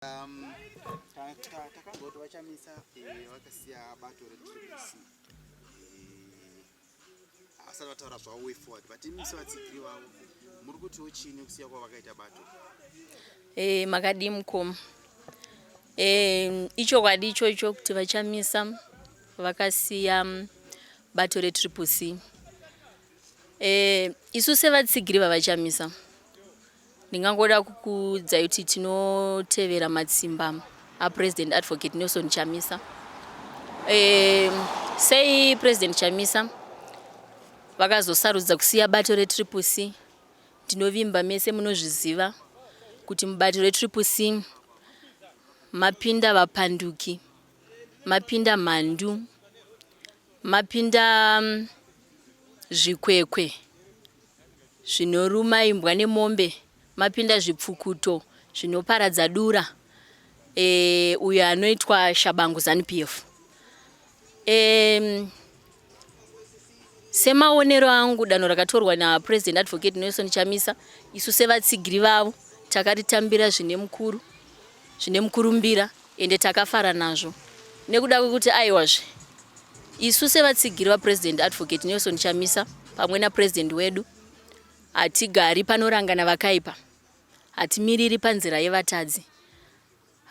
Um, takamboti vachamisa eh, vakasiya bato retribc havasati eh, vataura zvavo way forward but imisi vatsigiri vavo muri kutiwo chini kusiya kwavo vakaita bato eh, makadii mukoma ichokwadi ichocho kuti vachamisa vakasiya mm, bato retribc isu sevatsigiri vavachamisa Ndingangoda kukuudzai kuti tinotevera matsimba aPresident Advocate Nelson Chamisa. E, sei President Chamisa vakazosarudza kusiya bato reTriple C? Ndinovimba mese munozviziva kuti mubato reTriple C mapinda vapanduki, mapinda mhandu, mapinda mm, zvikwekwe. Zvinoruma imbwa nemombe mapinda zvipfukuto zvinoparadza dura e, uyo anoitwa Shabangu Zanu PF. E, semaonero angu danho rakatorwa naPresident Advocate Nelson Chamisa isu sevatsigiri vavo takaritambira zvine mukuru zvine mukurumbira Ende takafara nazvo nekuda kwekuti aiwazve isu sevatsigiri vaPresident Advocate Nelson Chamisa pamwe naPresident wedu hatigari panorangana vakaipa, hatimiriri panzira yevatadzi,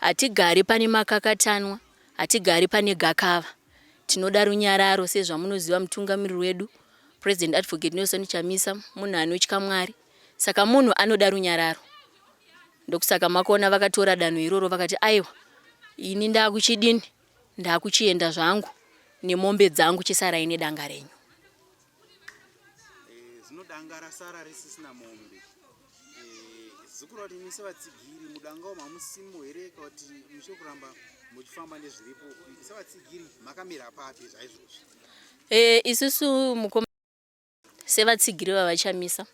hatigari pane makakatanwa, hatigari pane gakava. Tinoda runyararo sezvamunoziva mutungamiriri wedu President Advocate Nelson Chamisa munhu anotya Mwari saka munhu anoda runyararo Ndokusaka makona vakatora danho iroro vakati aiwa ini ndakuchidini ndakuchienda zvangu nemombe dzangu chisarai nedanga renyu. Eh, zvino danga rasara risisina mombe eh, zukura kuti imi sevatsigiri mudangawo mamusimo here ka kuti mushe kuramba muchifamba nezviripo sevatsigiri makamira papi zvaizvozvi eh, isusu mukoma sevatsigiri vaVaChamisa,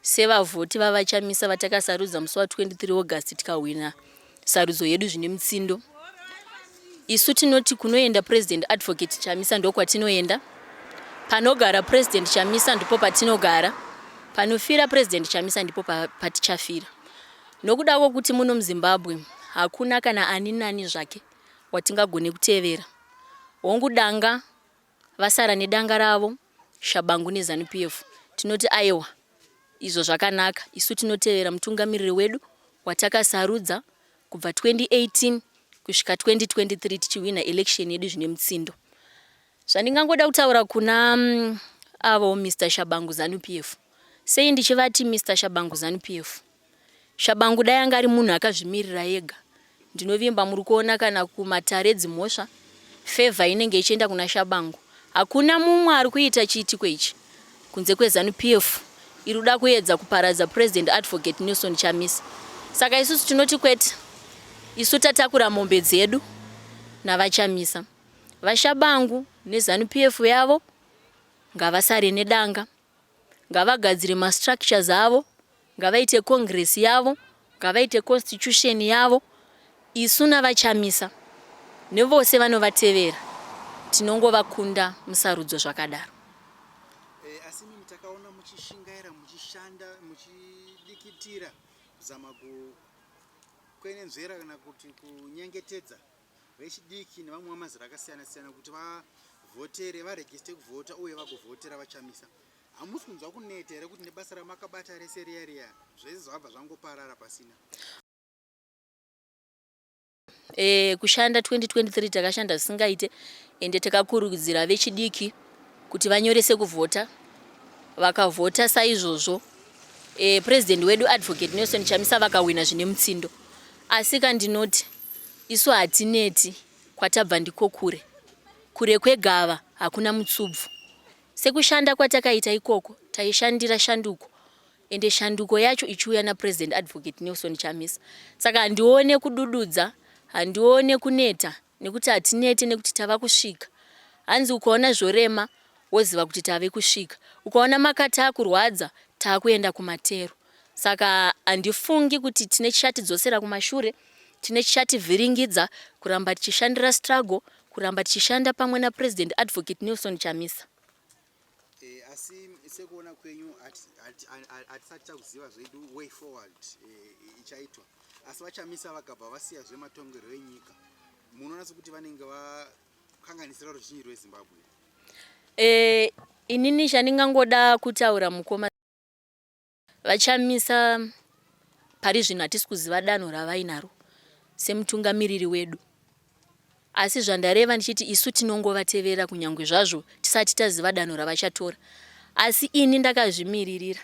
sevavhoti vaVaChamisa vatakasarudza musi wa 23 August tikahwina sarudzo yedu zvine mutsindo. Isu tinoti kunoenda President Advocate Chamisa ndokwatinoenda, panogara President Chamisa ndipo patinogara, panofira President Chamisa ndipo patichafira. Nokuda kwokuti muno muZimbabwe hakuna kana ani nani zvake watingagone kutevera. Hongu danga Vasara nedanga ravo, Shabangu neZanu PF, tinoti ayewa izvo zvakanaka. Isu tinotevera mutungamiriri wedu watakasarudza kubva 2018 kusvika 2023 tichihwinha election yedu zvine mutsindo. Zvandingangoda kutaura kuna avo Mister Shabangu Zanu PF, sei ndichivati Mister Shabangu Zanu PF? Shabangu dai anga ari munhu akazvimirira ega ndinovimba muri kuona kana kumatare dzimhosva favour inenge ichienda kuna Shabangu hakuna mumwe ari kuita chiitiko ichi kunze kweZanu PF iri kuda kuedza kuparadza President Advocate Nelson Chamisa saka isusu tinoti kwete isu tatakura mombe dzedu navaChamisa. VaShabangu neZanu PF yavo ngavasare nedanga. Ngavagadzire ma structures avo, ngavaite congress yavo, ngavaite constitution yavo, isu navaChamisa nevose vanovatevera tinongovakunda musarudzo zvakadaro. Asi imimi takaona muchishingaira muchishanda muchidikitira kuzama kukwenenzvera kana kuti kunyengetedza vechidiki nevamwe vamazera akasiyana siyana kuti vavhotere varegiste kuvhota uye vagovhotera vachamisa hamusi kunzwa kuneta here kuti nebasa ramakabata rese riya riya zvese zvabva zvangoparara pasina e, kushanda 2023 takashanda zvisingaite ende takakurudzira vechidiki kuti vanyorese kuvhota vakavhota saizvozvo e, eh, purezidendi wedu advocate nelson chamisa vakahwina zvine mutsindo asi kandinoti Isu hatineti kwatabva ndiko kure kure kwegava hakuna mutsubvu sekushanda kwatakaita ikoko taishandira shanduko ende shanduko yacho ichiuya naPresident Advocate Nelson Chamisa saka handione kudududza handione kuneta nekuti hatinete nekuti tava kusvika hanzi ukaona zvorema woziva kuti tave kusvika ukaona makata akurwadza takuenda kumatero Saka handifungi kuti tine chichatidzosera kumashure, tine chichativhiringidza kuramba tichishandira struggle, kuramba tichishanda pamwe naPresident Advocate Nelson Chamisa. Eh, asi sekuona kwenyu hatisati takuziva zvedu way forward eh, ichaitwa asi vachamisa vakabva vasiya zvematongerwo enyika munoona sekuti vanenge vakanganisira ruzhinji rwezimbabwe eh, inini chandingangoda kutaura mukoma VaChamisa, Pari zvino hatisi kuziva danho ravainaro semutungamiriri wedu asi zvandareva ndichiti isu tinongovateverera kunyangwe zvazvo tisati taziva danho ravachatora asi ini ndakazvimiririra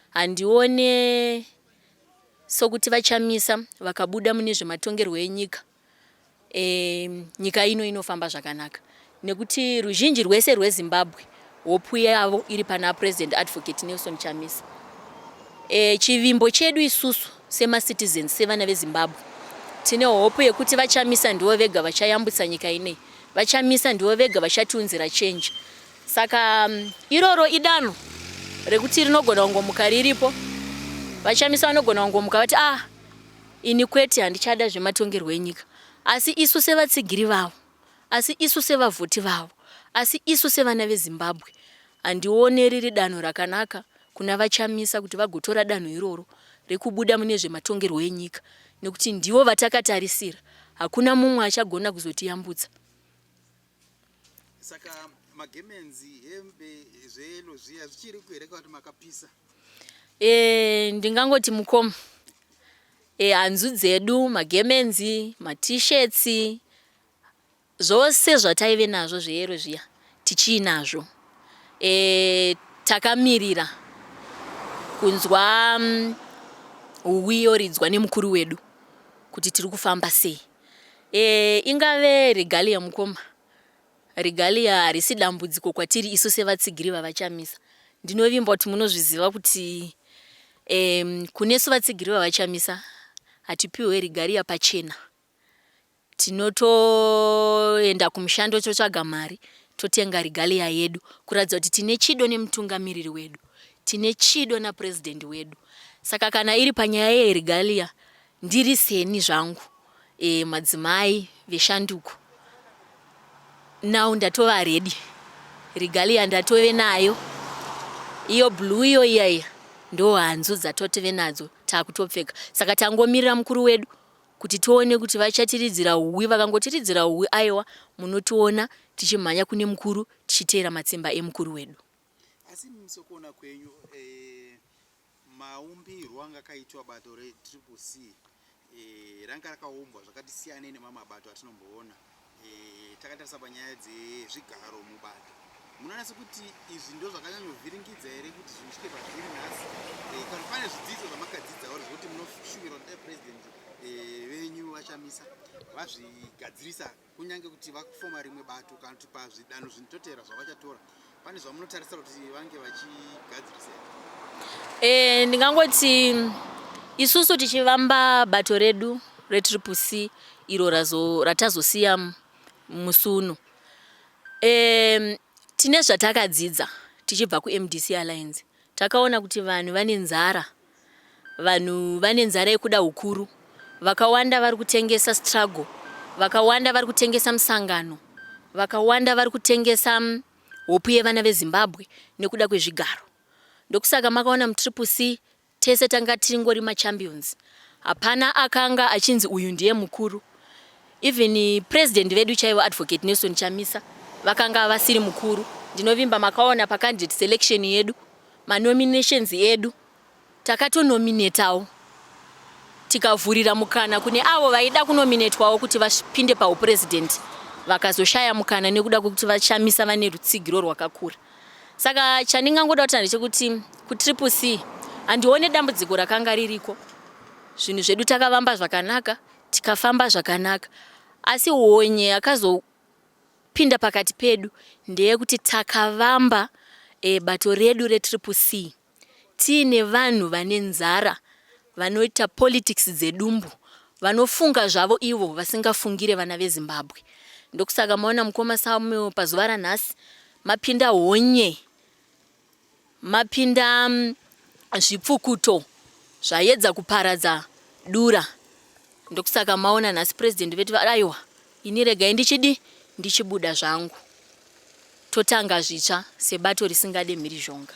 handione sokuti VaChamisa vakabuda mune zvematongerwo enyika e, nyika ino inofamba zvakanaka nekuti ruzhinji rwese rwezimbabwe hopu yavo iri pana president advocate nelson chamisa e, chivimbo chedu isusu semacitizens sevana vezimbabwe tine hopu yekuti vachamisa ndivo vega vachayambutsa nyika inei vachamisa ndivo vega vachatiunzira chenji saka mm, iroro idano rekuti rinogona kungomuka riripo vachamisa vanogona kungomuka vati ah Ini kwete handichada zvematongerwo enyika asi isu sevatsigiri vavo asi isu sevavhoti vavo asi isu sevana veZimbabwe handione riri danho rakanaka kuna VaChamisa kuti vagotora danho iroro rekubuda mune zvematongerwo enyika nekuti ndivo vatakatarisira hakuna mumwe achagona kuzotiyambutsa Saka magemenzi hembe zveyelo zviya zvichiri kuhere kwati makapisa. Eh ndingangoti mukoma. Eh hanzu dzedu magemenzi, maT-shirts zvose zvataive nazvo zveyero zviya tichiinazvo. Eh takamirira kunzwa mm, huwi yoridzwa nemukuru wedu kuti tiri kufamba sei. Eh, ingave regalia mukoma. Regalia harisi dambudziko kwatiri isu sevatsigiri vaVaChamisa. Ndinovimba kuti munozviziva kuti eh, kunesu vatsigiri vaVaChamisa hatipiwe regalia pachena. Tinotoenda kumushando totsvaga mari totenga regalia yedu kuratidza kuti tine chido nemutungamiriri wedu tine chido napurezidendi wedu saka kana iri panyaya yeregalia Ndiri seni zvangu eh, madzimai veshanduko now ndatova ready. Regalia ndatove nayo iyo blue iyo iya iya ndo hanzu dzatotove nadzo takutopfeka saka tangomirira mukuru wedu kuti tione kuti vachatiridzira uwi vakangotiridzira uwi aiwa munotiona tichimhanya kune mukuru tichiteera matsimba emukuru wedu asi musokuona kwenyu eh, Maumbirwo anga akaitwa bato re Triple C e, ranga rakaumbwa zvakati siyanei nemamwe mabato atinomboona e, takatarisa panyaya dzezvigaro mubato. Munoona sekuti izvi ndo zvakanyanyovhiringidza here kuti zviitike pazviri nhasi e, kana pane zvidzidzo zvamakadzidza or zvekuti munoshuvira kuti dai president e, venyu vachamisa vazvigadzirisa kunyange kuti vakufoma rimwe bato kana kuti pazvidanho zvinototera zvavachatora pane zvamunotarisa kuti vange vachigadzirisa e, ndingangoti isusu tichivamba bato redu retriple c iro ratazosiya musi uno e, tine zvatakadzidza tichibva kumdc alliance takaona kuti vanhu vane nzara Vanhu vane nzara yekuda hukuru. Vakawanda vari kutengesa struggle. Vakawanda vari kutengesa musangano. Vakawanda vari kutengesa mm, hope yevana veZimbabwe nekuda kwezvigaro. Ndokusaka makaona mutriple C tese tanga tingori machampions. Hapana akanga achinzi uyu ndiye mukuru. Even eh, president vedu chaivo Advocate Nelson Chamisa vakanga vasiri mukuru. Ndinovimba makaona pacandidate selection yedu. Ma nominations edu takato nominetawo tikavhurira mukana kune avo vaida kunominetwawo kuti vapinde pahu president vakazoshaya mukana nekuda kwekuti vaChamisa vane rutsigiro rwakakura. Saka chandingangoda kutaura ndechekuti kuTriple C handione dambudziko rakanga ririko. Zvinhu zvedu takavamba zvakanaka, tikafamba zvakanaka. Asi honye yakazo Pinda pakati pedu ndeyekuti takavamba e, bato redu retriple C tiine vanhu vane nzara vanoita politics dzedumbu vanofunga zvavo ivo vasingafungire vana veZimbabwe. Ndokusaka maona mukoma Samuel pazuva ranhasi mapinda honye Mapinda zvipfukuto zvayedza kuparadza dura ndokusaka maona nhasi president vetu aiwa ini regai ndichidi ndichibuda zvangu totanga zvitsva sebato risingade mhirizhonga.